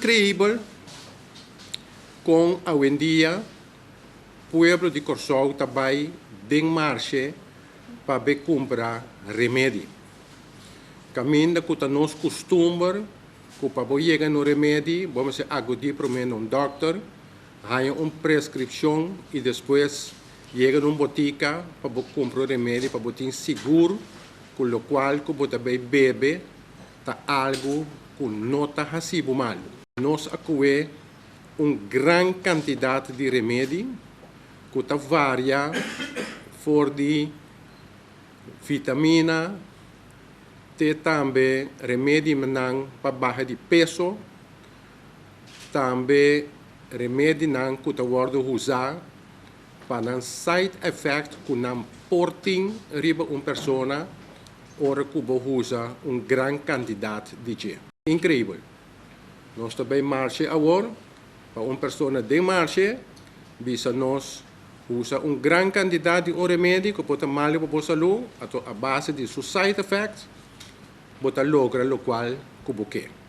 Creibel kon awendia pueblo di Kòrsou ta bai den marshe pa be kumpra remedi. Kaminda ku ta nos kustumber ku pa bo yega na un remedi bo mester agudí promé na un dòkter, haña un preskripshon i despues yega na un botika pa bo kumpra un remedi pa bo tin sigur ku lokual ku bo ta bai bebe, ta algu cu no ta haci bo mal. Nos a coe un gran cantidad di remedi cu ta varia for di vitamina te tambe remedinan pa baha di peso, tambe remedinan cu ta wordo uza. Pa nan side effect cu nan por tin riba un persona ora cu bo usa un gran cantidad di dje. Increíbel! Nos ta bay marche awor pa un persona den marche bisa nos usa un gran cantidad di un remedi cu por ta malo pa bo salú, ato a base di su side effect bo ta logra locual cu bo ke.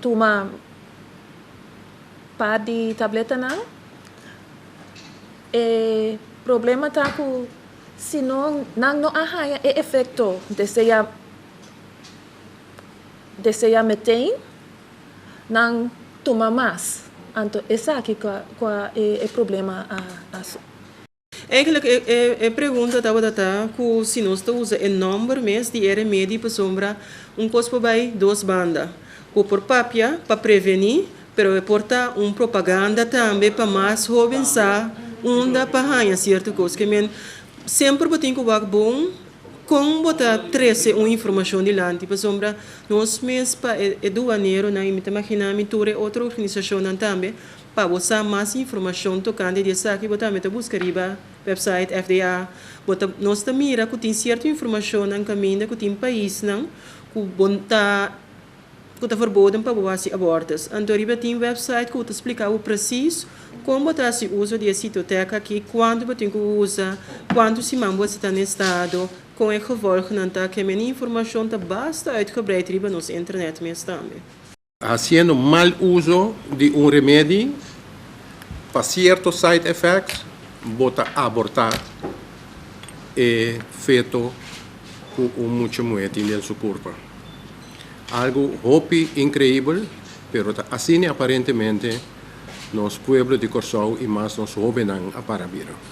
Tuma par di tabletanan. E problema ta ku si nan no a haña e efekto desea desea meteen, nan tuma mas. Anto esaki ku a e problema a. Eigenlijk e pregunta tabata ta cu si nos ta usa e nomber mes di e remedi pasobra un cos por bay dos banda. Cu por papia pa preveni pero e por ta un propaganda tambe pa mas hoben sa unda pa haya cierto cos. Ke men semper bo tin cu wak bon con bo ta trece un informacion dilanti pasobra nos mes pa e duaneronan y mi ta magina mi tur e otro organisacionnan tambe Pa bo sa mas informashon tokante di esaki bo tambe ta buska riba wèpsait FDA. Bo ta nos ta mira ku tin sierto informashonnan kaminda ku tin paisnan ku bo ta ku ta verboden pa bo hasi abòrtus. Anto riba tin wèpsait ku ta splika bo presis kon bo ta hasi uso di e sitotèk aki, kuantu bo tin ku usa, kuantu siman bo esta ta na e stado, kon e gevòlgnan ta. Kemende informashon ta basta uitgebreid riba nos internèt mes tambe. Hasiendo mal uso di un remedi pa cierto side effects bo ta aborta e feto cu un mucha muher tin den su curpa. Algo hopi increibel pero ta asina aparentemente nos pueblo di Corsou y mas nos hobennan a para bira.